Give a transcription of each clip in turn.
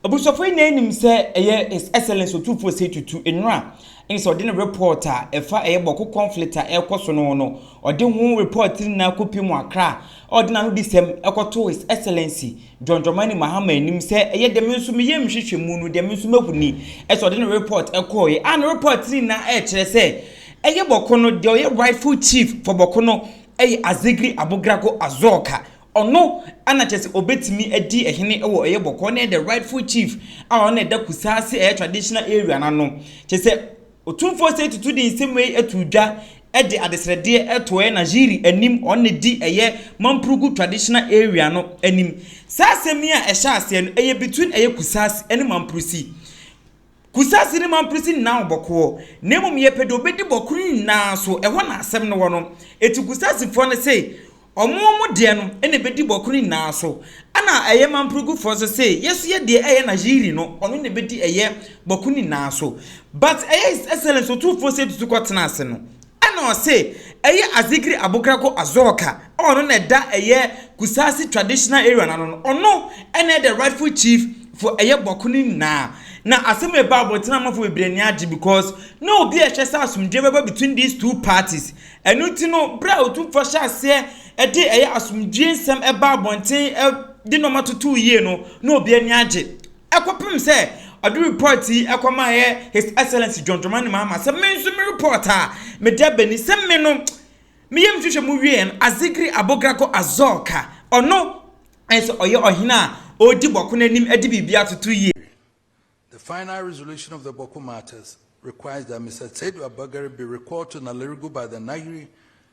Abusuafoɔ nyinaa nim sɛ ɛyɛ His Excellence Otumfoɔ Osei Tutu nnuro a ɛne sɛ ɔde ne report a ɛfa ɛyɛ Bɔko conflict a ɛrekɔ so no ho no, ɔde ho report no nyinaa kɔpie mu Accra a ɔde n'anodisɛm kɔtoo His Excellency John Dramani Mahama anim sɛ ɛyɛ deɛ me nso me yam nhwehwɛmu no deɛ me nso mahu ni sɛ ɔde ne report kɔeɛ a ne report no nyinaa ɛrekyerɛ sɛ ɛyɛ Bɔko no deɛ ɔyɛ rightful chief for Bɔko no ɛyɛ Azegri Abogrago Azɔɔka Ɔno na kyerɛ sɛ ɔbɛtumi adi hene wɔ ɛyɛ bɔkɔɔ na ɛyɛ the rightful chief a ɔno na ɛda Kusase ɛyɛ traditional area no ano. Kyerɛ sɛ Otumfoɔ Osei Tutu de nsɛm wei too dwa de adesrɛdeɛ too ɛyɛ Nahiri anim, ɔno na ɛdi ɛyɛ Mampurugu traditional area no anim. Saa asɛm yi a ɛhyɛ aseɛ no ɛyɛ between ɛyɛ Kusase ne Mampurusi. Kusase no mamprisi nna wo bɔkɔɔ, na mmom yɛpɛ deɛ ɔbɛdi bɔkɔɔ no nyinaa so, ɛhɔ na asɛm no wɔ no. Enti Kusasefoɔ no se, Wɔn wɔn deɛ no na ɛbɛdi bɔkɔɔ no nyinaa so. Ɛna ɛyɛ Mampregufoɔ nso se, Yɛ nso yɛ deɛ ɛyɛ na Yiri no, ɔno na ɛbɛdi ɛyɛ bɔkɔɔ no nyinaa so. But ɛyɛ His Excellence Otumfoɔ Seidu Tukur Tenase no, Ɛna ɔse ɛyɛ Azikri Abukrako Azoka a ɔno na ɛda ɛyɛ Kusasi Traditional Area no ano no, ɔno ɛna ɛyɛ the rightful chief for ɛyɛ Bɔko no nyinaa. Na asɛm yi baa abɔnten a amanfoɔ bebree ani agye because na obi a ɛhwɛ sɛ asomdwoeɛ bɛba between these two parties. Ɛno nti no berɛ a Otumfoɔ hyɛɛ aseɛ de ɛyɛ asomdwoeɛ nsɛm baa abɔnten de nnoɔma totoo yie no, na obi ani agye. Ɛkɔpem sɛ ɔde report yi kɔmaeɛ His Excellency John Dramani Mahama sɛ me nso me report a mede aba ni sɛ me no me yam hwehwɛ mu wieɛ no Azigri Abogrago Azorka ɔno nso ɔyɛ ɔhene a ɔredi Bɔko no anim de biribi atoto yie. The final resolution of the Bɔko matters requires that Mister Tseidu Abagari be recalled to Nalerigu by the Nayiri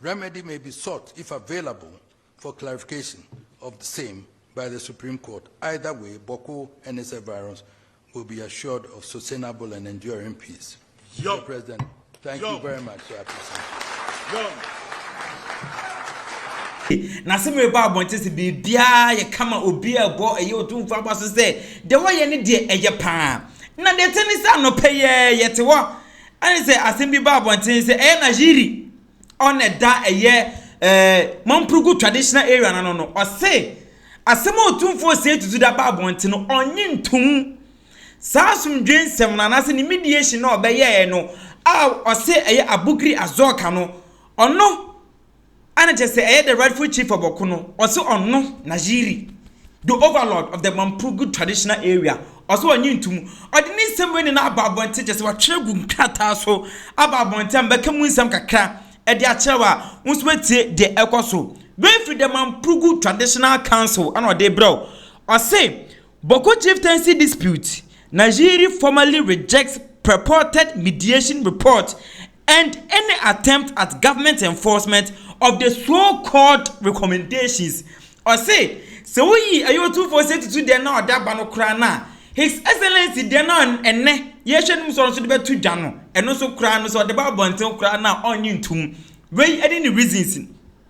Remedy may be sought if available for clarification of the same by the Supreme Court. Either way, Bawku and his environs will be assured of sustainable and enduring peace. Yo. Mr. President, thank Yo. you very much. Sir. Yo. na sɛ mereba abɔnten sɛ biribiara yɛ kama obi a ɛbɔ ɛyɛ ɔtumfo aba so sɛ deɛ wɔyɛ ne deɛ ɛyɛ paa na deɛ ɛte ne sɛ anɔpɛ yɛ yɛte hɔ Ɛne sɛ asɛm bi baa abɔnten sɛ ɛyɛ Najiri ɔna ɛda ɛyɛ eh, Mampurugu traditional area no ano no, ɔse asɛm a Otumfoɔ Seetu Dzu da baa abɔnten no, ɔnnye ntom. Saa asomdwoe nsɛm no anaasɛ ne mediation no a ɔbɛyɛɛ no a ɔse ɛyɛ Abukiri Azoka no, ɔno, a na kyerɛ sɛ ɛyɛ the rightful chief of ɔko no, ɔse ɔno, Najiri, the overlord of the Mampugu traditional area, ɔse ɔnye ntom. Ɔde ne nsɛm wei nyinaa aba abɔnten, kyerɛ sɛ watwerɛ agu nkrataa so aba abɔnten a mebɛka mu nsɛm kakra de akyerɛ wo a wo nso woatie deɛ ɛkɔ so. Wei firi the Mampugu traditional council na ɔde brɛ wo. Ɔse, Boko chieftaincy dispute, Najiri formally rejects purported mediation report and any attempt at government enforcement of the so called recommendations Ɔse sɛ woyi ɛyɛ otumfoɔ sɛ tutu deɛ na ɔda ba no koraa no a, His Excellency deɛ na ɛnnɛ yɛhwɛ no mu sɛ ɔno nso de bɛto dwa no, ɛno nso koraa no sɛ ɔde ba abɔnten koraa no a ɔnnye ntom. Wei ne ne reasons.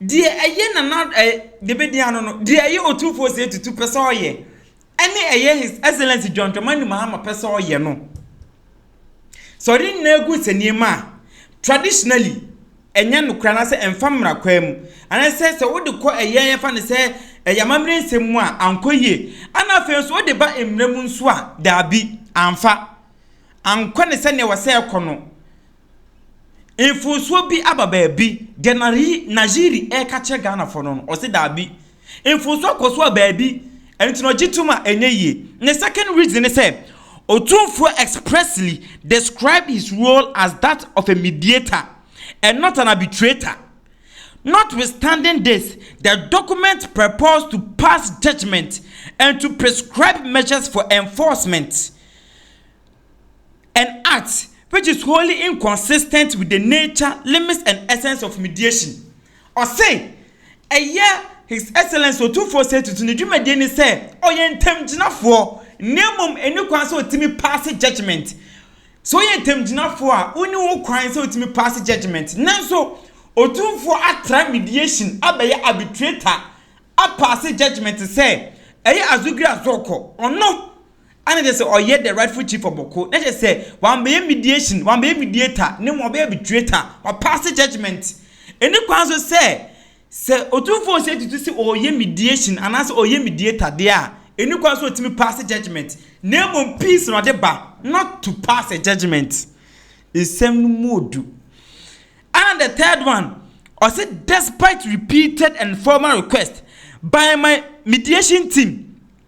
Deɛ ɛyɛ nana eh, deɛ bɛdi ano no, deɛ ɛyɛ otumfoɔ sɛ tutu pɛ sɛ ɔyɛ, ɛne ɛyɛ His Excellency John Dramani Mahama pɛ sɛ ɔyɛ no. Sɛ ɔde ne nyinaa agu nsɛnniiɛ mu a, traditionally, ɛnyɛ nokorɛ anaasɛ ɛmfa mmara kwan mu, anaasɛ sɛ wode kɔ ɛyɛ yɛmfa no sɛ ɛyɛ amammerɛ nsɛm mu a, ankɔ yie, ɛna afei nso wode ba mmara mu nso a, daabi, amfa, ankɔ no sɛdeɛ ɛwɔ sɛ ɛkɔ no. Mfonsuo bi aba baabi, deɛ Najiri reka kyerɛ Ghanafoɔ no no, ɔse daabi. Mfonsuo akɔ so a baabi, ɛno nti na ɔgye tom a ɛnyɛ yie. Ne second reason ne sɛ, Otumfuo expressly described his role as that of a mediator and not an arbitrator. Notwithstanding this, the document purports to pass judgement and to prescribe measures for enforcement. an act which is wholly inconsistent with the nature, limits and essence of mediation. Ɔse, ɛyɛ His Excellency Otumfoɔ Osei Tutu ne dwumadie ne sɛ ɔyɛ ntamgyinafoɔ na mmom ɛnni kwan sɛ ɔtumi paase judgement. Sɛ woyɛ ntamgyinafoɔ a, wonni ho kwan sɛ wotumi paase judgement. Nanso, Otumfoɔ atra mediation abɛyɛ arbitrator apaase judgement sɛ ɛyɛ Azugri Azɔkɔ, ɔno Ana kyerɛ sɛ ɔyɛ the rightful chief of Boko? Na kyerɛ sɛ wambɛyɛ mediation, wambɛyɛ mediator, ne mmom ɔbɛyɛ arbitrator, wapaase judgement. Ɛnni kwan nso sɛ, sɛ Otumfoɔ Osei Tutu se ɔreyɛ mediation anaasɛ ɔreyɛ mediator deɛ a, ɛnni kwan sɛ ɔtumi paase judgement, na mmom peace na ɔde ba, not to pass a judgement. Nsɛm no mu odu. Ana the third one, ɔse despite repeated and formal requests by my mediation team,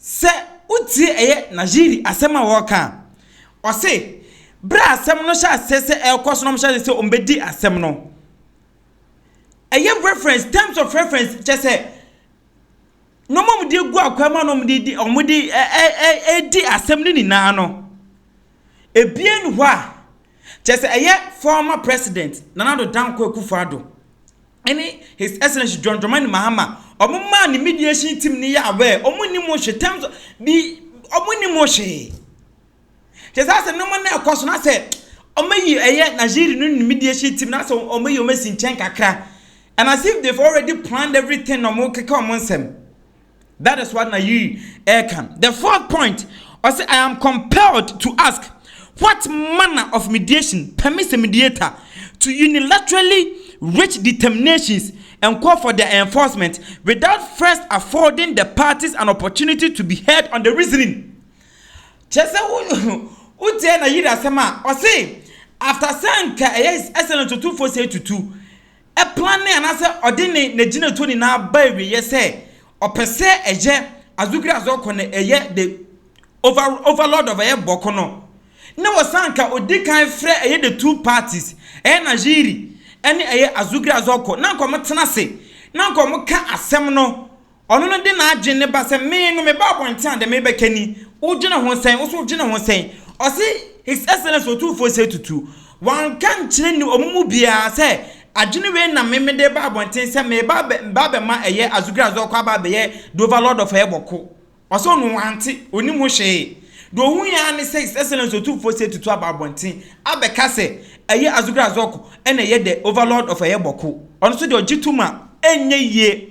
Sɛ wotie ɛyɛ Najiri asɛm a ɔreka a, ɔse berɛ a asɛm no hyɛ aseɛ sɛ ɛrekɔ so na wɔhyɛ aseɛ sɛ wɔbɛdi asɛm no, ɛyɛ reference, terms of reference, kyɛ sɛ nneɛma a wɔde agu akwan mu a na wɔde di wɔde ɛ ɛ ɛ ɛredi asɛm no nyinaa no, ebie nni hɔ a kyɛ sɛ ɛyɛ former president Nana Addo Dankwa Akufo-Addo. ɛne His Excellency John Dramani Mahama, wɔn maa ne mediation team no yɛ aware, wɔn nni mu hwe terms, bi, wɔn nni mu hwee. Kyɛ sɛ asɛ nneɛma na ɛkɔ so na sɛ wɔayi ɛyɛ Nigeria no ne mediation team na sɛ wɔayi wɔn asi nkyɛn kakra. And as if they've already planned everything na wɔn keka wɔn nsɛm. That is what Nayi ɛka. The fourth point, ɔse I am compelled to ask what manner of mediation permits a mediator to unilaterally reach determinations and call for their enforcement without first affording the parties an opportunity to be heard on the reasoning. Kyerɛ sɛ wotie Nayi asɛm a, ɔse after sɛ anka ɛyɛ sɛ no tutufoɔ sɛ tutu, planee anaasɛ ɔde ne n'agyinatuo nyinaa ba awieɛ sɛ ɔpɛ sɛ ɛyɛ Azukri Azɔkɔ no ɛyɛ the over, overlord of ɛyɛ Bɔko no na wɔsan ka ɔdi kan frɛ ɛyɛ the two parties ɛyɛ Najiri ɛne ɛyɛ Azukri Azɔkɔ na nka wɔn tena ase na nka wɔn ka asɛm no Ɔno no de n'adwene no ba sɛ, Me no, meba abɔnten a, deɛ merebɛka ni. Wodwene ho sɛn? Wo nso wodwene ho sɛn? Ɔse, His Excellency Otumfoɔ Seyi Tutu, wanka nkyerɛ ni wɔn mu biara sɛ adwene wei na me mede reba abɔnten sɛ mereba abɛ, meba abɛma ɛyɛ Azugrazu akɔ aba abɛyɛ the overlord of Ɛbɔko. Ɔse ɔno wante, ɔnim ho hwee. Deɛ ɔhui ara ne sɛ His Excellency Otumfoɔ Seyi Tutu aba abɔnten abɛka sɛ ɛyɛ Azugrazu akɔ ɛna ɛyɛ the overlord of Ɛbɔko. Ɔno nso deɛ ɔgye tom a, ɛnyɛ yie.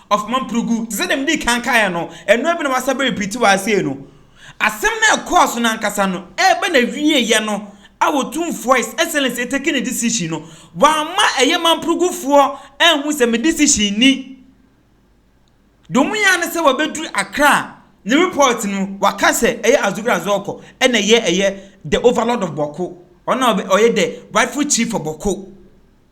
of Mamprogou, te sɛ deɛ mede kan kaeɛ no, ɛno ara bi na wɔasa bɛripiti wɔ ha sei no. Asɛm no a ɛkɔɔ so no ankasa no, ɛreba n'awieeɛ no, a Otumfoɔ His Excellency retake ne decision no, wamma ɛyɛ Mamprogufoɔ anhu sɛ me decision ni. Deɛ wɔyɛ ara ne sɛ wɔabɛduru Accra a, ne report no mu, wɔaka sɛ ɛyɛ Azugra Azɔɔkɔ na ɛyɛ ɛyɛ the overlord of Bawku, ɔno na ɔyɛ the rightful chief for Bawku.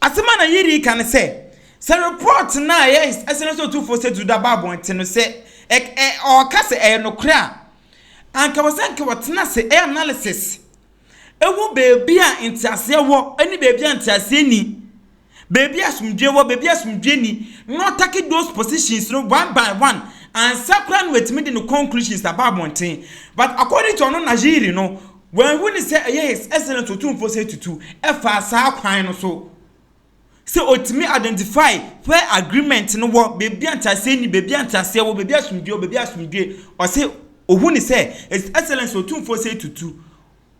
Asɛm a na Yiri reka ne sɛ, sɛ repɔɔto no a ɛyɛ ɛsɛnɛ sɛ otumfoɔ Seydou da ba abɔnten no, sɛ ɛ ɛ ɔreka sɛ ɛyɛ nokorɛ a, anka ɛwɔ sɛ anka wɔtena ase yɛ analysis hu baabi a nteaseɛ wɔ ne baabi a nteaseɛ nni, baabi a asomdwoeɛ wɔ, baabi a asomdwoeɛ nni, na wɔtake those positions no one by one ansa koraa na wɔatumi de ne conclusions aba abɔnten. But according to ɔno Najiri no, Wanhu ne sɛ ɛyɛ His Excellence Otumfoɔ Seyi Tutu faa saa kwan no so sɛ ɔtumi identify where agreement no wɔ, baabi a nteaseɛ nni, baabi a nteaseɛ wɔ, baabi a asomdwoeɛ wɔ, baabi a asomdwoeɛ, ɔse ɔhu ne sɛ His Excellence Otumfoɔ Seyi Tutu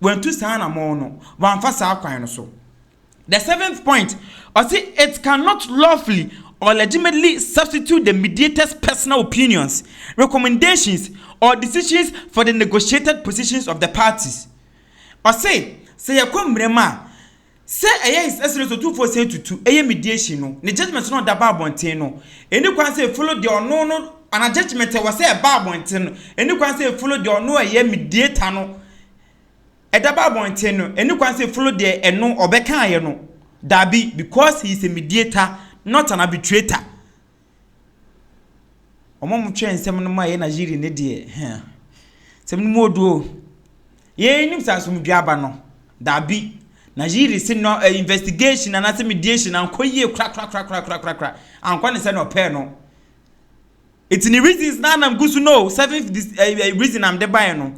wantu saa anamɔn no, wamfa saa kwan no so. The seventh point, ɔse it cannot lawfully or legitimately substitute the mediator's personal opinions, recommendations or decisions for the negotiated positions of the parties. Ɔse sɛ yɛkɔ mmerɛm a, sɛ ɛyɛ his excellence Otumfoɔ Osei Tutu ɛyɛ mediation no, ne judgement no a ɔde aba abɔnten no, ɛnni kwan sɛ ɛfollow deɛ ɔno no, anaa judgement a ɛwɔ sɛ ɛba abɔnten no, ɛnni kwan sɛ ɛfollow deɛ ɔno a ɛyɛ mediator no, Ɛda ba abɔnten no, ɛni kwan sɛ Flo deɛ ɛno ɔbɛkaeɛ no, dabi, because he is a mediator, not an arbitrator. Wɔn a wɔtwerɛ nsɛm no ma ɛyɛ Nigerian no deɛ, hɛn, nsɛm no mu odu o. Yei nim sɛ asomdwoe aba no, dabi, Nigerian se no eh, investigation anaasɛ mediation ankɔ yie korakorakorakorakorakora, ankɔ ne sɛdeɛ ɔpɛɛ no. Eti ne reasons na nam gu so no o, seventh dis ɛyi ɛyi reason nam de bae no,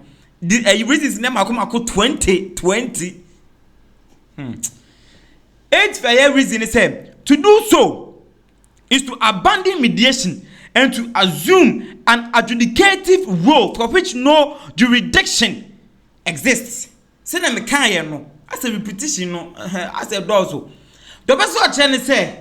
di ɛyi reasons ne mako mako twenty twenty. Hmm. Eighth ɛyɛ reason ne sɛ, to do so is to abandon mediation and to assume an adjudicative role for which no jurisdiction exists. Sɛnea mekaeɛ no, asɛ repetition no, ɛhɛ, asɛ dɔɔso. Deɛ ɔbɛsɛ ɔkyerɛ ne sɛ,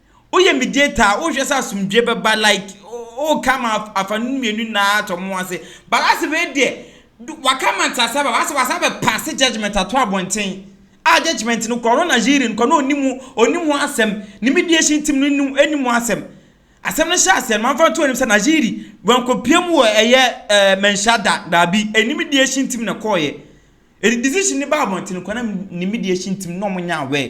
Woyɛ mediator a wohwɛ sɛ asomdwie bɛba like woka ma afa no mmienu nyinaa atɔ mo ase but asɛ wei deɛ waka ma ntease aba asɛ wasa bɛ pass judgement ato abɔnten a judgement no kɔ no na jury no kɔ no onim onim ho asɛm ne mediation team no nim enim ho asɛm asɛm no hyɛ asɛm manfa nto anim sɛ na jury wɔn kɔ pie mu wɔ ɛyɛ ɛɛ mɛnhyɛ da daabi ɛni mediation team na kɔɔ yɛ ɛdi decision ne ba abɔnten kɔ na ne mediation team na wɔn nyɛ aware.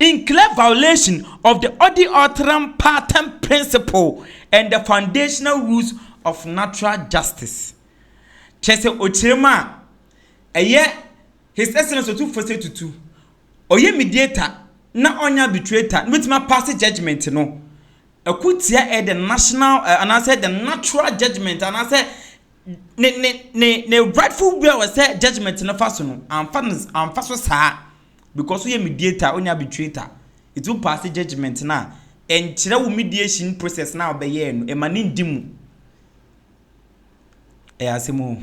in clear violation of the Odi Otram Patam principle and the foundational rules of natural justice. Kyerɛ sɛ ɔkyerɛ mu a, ɛyɛ His Excellency Otumfoɔ sɛ tutu ɔyɛ mediator na ɔnyɛ arbitrator na ɔbɛtumi apaase judgment no ɛko tia ɛyɛ the national anaasɛ the natural judgment anaasɛ ne ne ne ne rightful way a wɔn sɛ judgement no fa so no anfa no anfa so saa because woyɛ mediator onye arbitrator eti wo paase judgement no a ɛnkyerɛ wo mediation process no a wɔbɛyɛɛ no ɛma ne ndi mu ɛyɛ asɛm o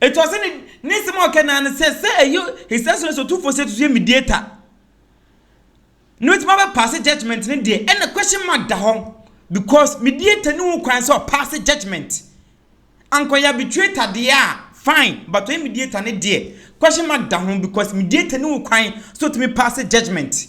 Enti ɔsɛ ne ne nsɛm a ɔka nyinaa no sɛ sɛ ɛyɛ Hesɛs no sɛ ɔtumfoɔ sɛ ɛtutu yɛ mediator na ɔtumi abɛpaase judgment no deɛ ɛna question mark da hɔ because mediator ne wo kwan sɛ ɔpaase judgment ankɔyɛ arbitrator deɛ a fine but ɔyɛ mediator no deɛ question mark da ho because mediator ne wo kwan sɛ ɔtumi paase judgment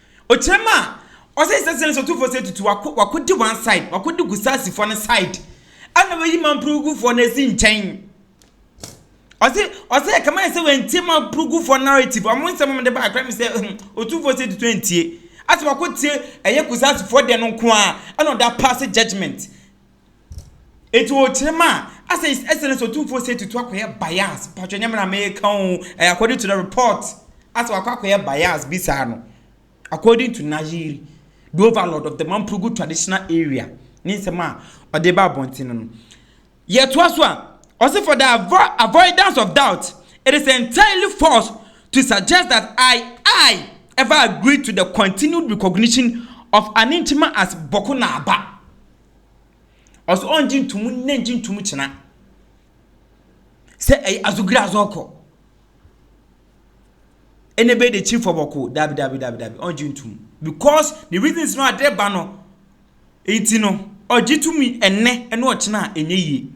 Okyerɛ ma ɔsɛ his excellence ɔtumfoɔ sɛ tutu wako wako di one side wako di gusasifoɔ no side ɛna wɔyi mampurugufoɔ no asi nkyɛn ɔsɛ ɔsɛ ɛkama yɛ sɛ wɔntie mampurugufoɔ narrative ɔmo nsɛm ɔmo de ba akora mi sɛ ɔtumfoɔ sɛ tutu ntie asɛ wako tie ɛyɛ gusasifoɔ deɛ no nko a ɛna ɔda pass judgement Enti wɔ kyerɛ mu a, asɛ is excellence otumfoɔ sɛ tutu akɔyɛ bias, patwɛ nyɛ me na meka o, ɛyɛ according to the report, asɛ wakɔ akɔyɛ bias bi saa no, according to Nayeri, the overlord of the Mampurugu traditional area, ne nsɛm a ɔde ba abɔnten no no. Yɛtoa so a, ɔse for the avo avoidance of doubt, it is entirely false to suggest that I I ever agreed to the continued recognition of Aninkyima as Bɔko Naaba. Ɔse ɔngye ntomu nnɛ nngye ntomu kyena sɛ ɛyɛ azogire adze ɔkɔ ɛna ɛbɛyɛ dɛ kyiri fɔbɔkoo dabi dabi dabi dabi ɔngye ntomu because ne reasons no adze reba no nti no ɔgye to mu ɛnɛ ɛna ɔkyena a ɛnyɛ yie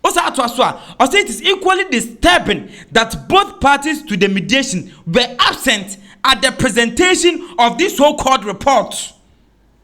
ɔsa atoa so a ɔse it is equally disturbing that both parties to the mediation were absent at the presentation of this so called report.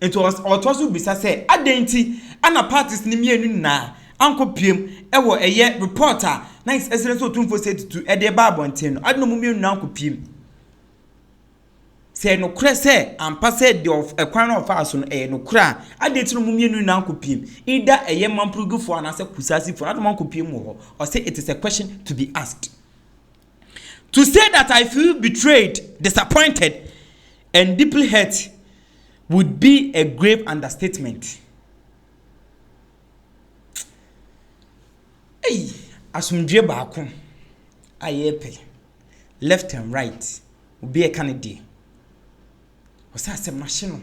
Enti ɔtoa so bisa sɛ, Adɛn nti na parties no mmienu nyinaa ankɔpuem wɔ ɛyɛ report a na His Excellency Otumfuo Osei Tutu de reba abɔnten no? Adɛn na wɔn mmienu nyinaa ankɔpuem? Sɛ ɛyɛ nokorɛ sɛ ampa sɛ deɛ kwan a ɔfaa so no ɛyɛ nokorɛ a, adɛn nti na wɔn mmienu nyinaa ankɔpuem? Either ɛyɛ Mamprogifoɔ anaasɛ Kusaasifoɔ, adɛn na wɔankɔpuem wɔ hɔ? Ɔse, It is a question to be asked. To say that I feel betrayed, disappointed, and deeply hurt would be a grave understatement. Ei, asomdwoe baako a yɛrepɛ left and right, obi ɛka ne deɛ. Ɔsɛ asɛm no ahye no.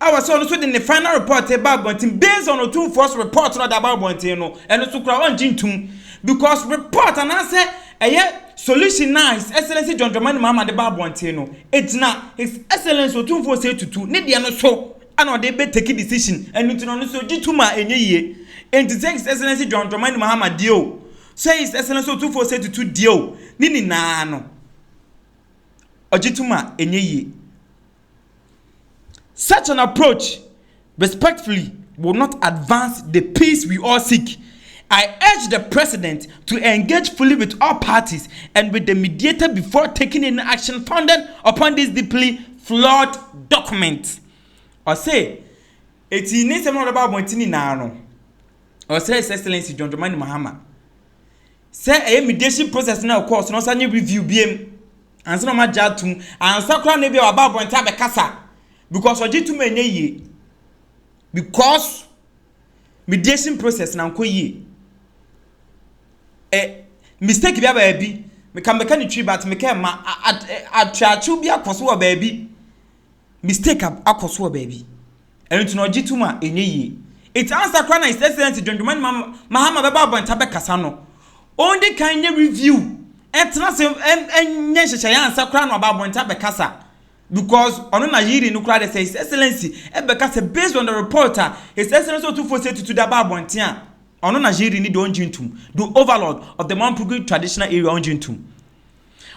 a ɔsɛ ɔno nso de ne final report reba abɔnten based on otumfoɔ's report na ɔde aba abɔnten no ɛno nso koraa ɔngye ntum because report anaasɛ ɛyɛ solution na his excellency John Dramani Mahama de ba abɔnten no egyina his excellency otumfoɔ Osei Tutu ne deɛ no so ɛna ɔde bɛ take decision ɛno nti na ɔno nso gye tum a ɛnyɛ yie enti sɛ his excellency John Dramani Mahama deɛ o sɛ his excellency otumfoɔ Osei Tutu deɛ o ne nyinaa no ɔgye tum a ɛnyɛ yie. Such an approach respectfully will not advance the peace we all seek. I urge the President to engage fully with all parties and with the mediator before taking any action founded upon this deeply flawed document. Ɔse, eti ne nsɛm a ɔde ba abɔnten nyinaa no, ɔsrɛ His Excellency John Dramani Mahama sɛ ɛyɛ mediation process no a ɛkɔɔ so no ɔsan nyɛ review biom. Ansa na wɔagye atom. Ansa koraa na ebia waba abɔnten abɛkasa. Because ɔgye tom a ɛnyɛ yie. Because mediation process na nkɔ yie. Eh, mistake bi aba baabi. Meka meka ne twi but meka ɛma atweakyew bi akɔ so wɔ baabi. Mistake akɔ so wɔ baabi. Ɛno nti na ɔgye tom a ɛnyɛ yie. Nti ansa koraa na His Excellency John Dramani Mahama bɛba abɔnten abɛkasa no, ɔndi kan nyɛ review, ɛntena ase nyɛ nhyehyɛeɛ ansa koraa na waba abɔnten abɛkasa. Because ɔno na hearing no koraa deɛ sɛ His Excellency ɛbɛkasa based on the report a His Excellency Otumfoɔ Osei Tutu de aba abɔnten a, ɔno na hearing no deɛ ɔngye ntom. The Overlord of the Mamprugu Traditional Area ɔngye ntom.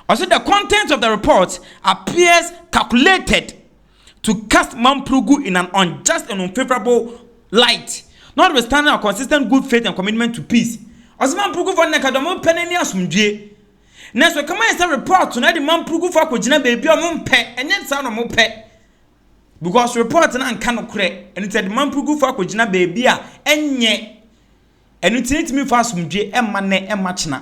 Ɔse the content of the report appears calculated to cast Mampurugu in an unjust and unfavorable light notwithstanding our consistent good faith and commitment to peace. Ɔsɛ Mampurugufo no na nka deɛ ɔmo pɛ no ne asomdwie. Nanso ɛka ma yɛ sɛ report no ɛde Mampurugufo akɔgyina baabi a ɔmo mpɛ, ɛnyɛ saa na ɔmo pɛ. Because report no anka nokorɛ, ɛno nti ɛde Mampurugufo akɔgyina baabi a ɛnyɛ. Ɛno nti ɛntumi mfa asomdwie ɛmma nnɛ ɛmma kyena.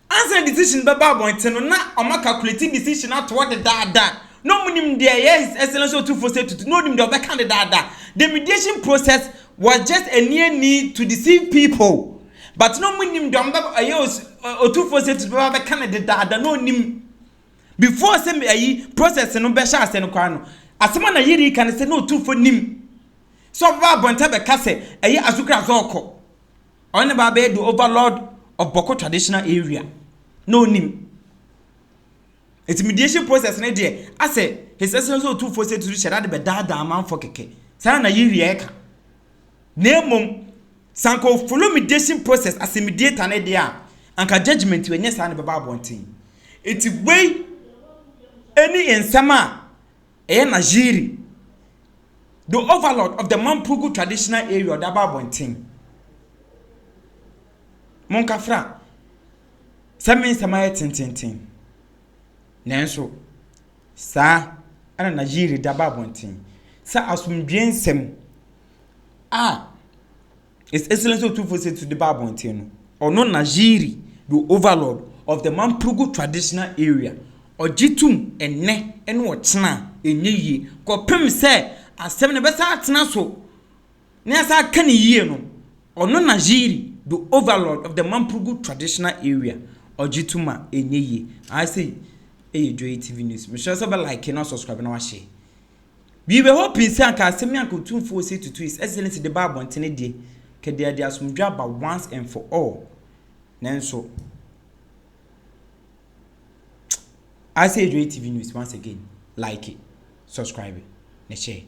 Ansa na decision bɛba abɔnten no na wɔn a calculate decision ato hɔ dedaada, na wɔn nim deɛ ɛyɛ His Excellency Otumfoɔ sɛ tutu na wɔn nim deɛ wɔbɛka dedaada. The mediation process was just a near need to deceive people but na wɔn nim deɛ wɔn bɛ ɛyɛ Otumfoɔ sɛ tutu bɛba abɛka no dedaada na wɔn nim before sɛ ɛyi process no bɛhyɛ ase no koraa no asɛm a na yɛrɛ yi ka no sɛ na Otumfoɔ nim sɛ ɔbɛba abɔnten abɛka sɛ ɛyɛ Asukra Zɔɔkɔ. Ɔno ne ba bɛyɛ the overlord of Bɔko traditional area na ɔnim. Ɛti mediation process ne deɛ asɛ His Excellency Otumfoɔ sɛ tiri hyɛda de bɛdaadaa amanfoɔ kɛkɛ. Saa na yi wieɛ ka. Na mmom, sanka o follow mediation process as a mediator ne deɛ a, anka judgment wɔ nyɛ saa na ɛbɛba abɔnten. Ɛti wei ɛni nsɛm a. ɛyɛ Najiri, the overlord of the Mampugu traditional area ɔde aba abɔnten. Monkafra sɛ me nsɛm ayɛ tententen. Nanso, saa ɛna Najiri de aba abɔnten sɛ asomdwoe nsɛm a His Excellency Otumfuo Setiso de ba abɔnten no, ɔno na Jiri, the overlord of the Mamprugu traditional area, ɔgye tom ɛnnɛ ne ɔkyena a ɛnyɛ yie kɔpem sɛ asɛm no bɛsan atena so na yɛasan aka no yie no, ɔno na Jiri, the overlord of the Mamprugu traditional area, ɔgye tom a ɛnyɛ yie. Ayɛ sɛ ɛyɛ Joy TV News. Mesrɛ sɛ wobɛ like na subscribe na wahyɛ. Wi bɛ hɔ pii sɛ anka asɛm yi anka Otumfo Osei Tutu His Excellency de ba abɔntene deɛ, anka deɛ ɛde asomdwoe aba once and for all. Nanso, I say Adwoa TV News once again, like, subscribe, na share.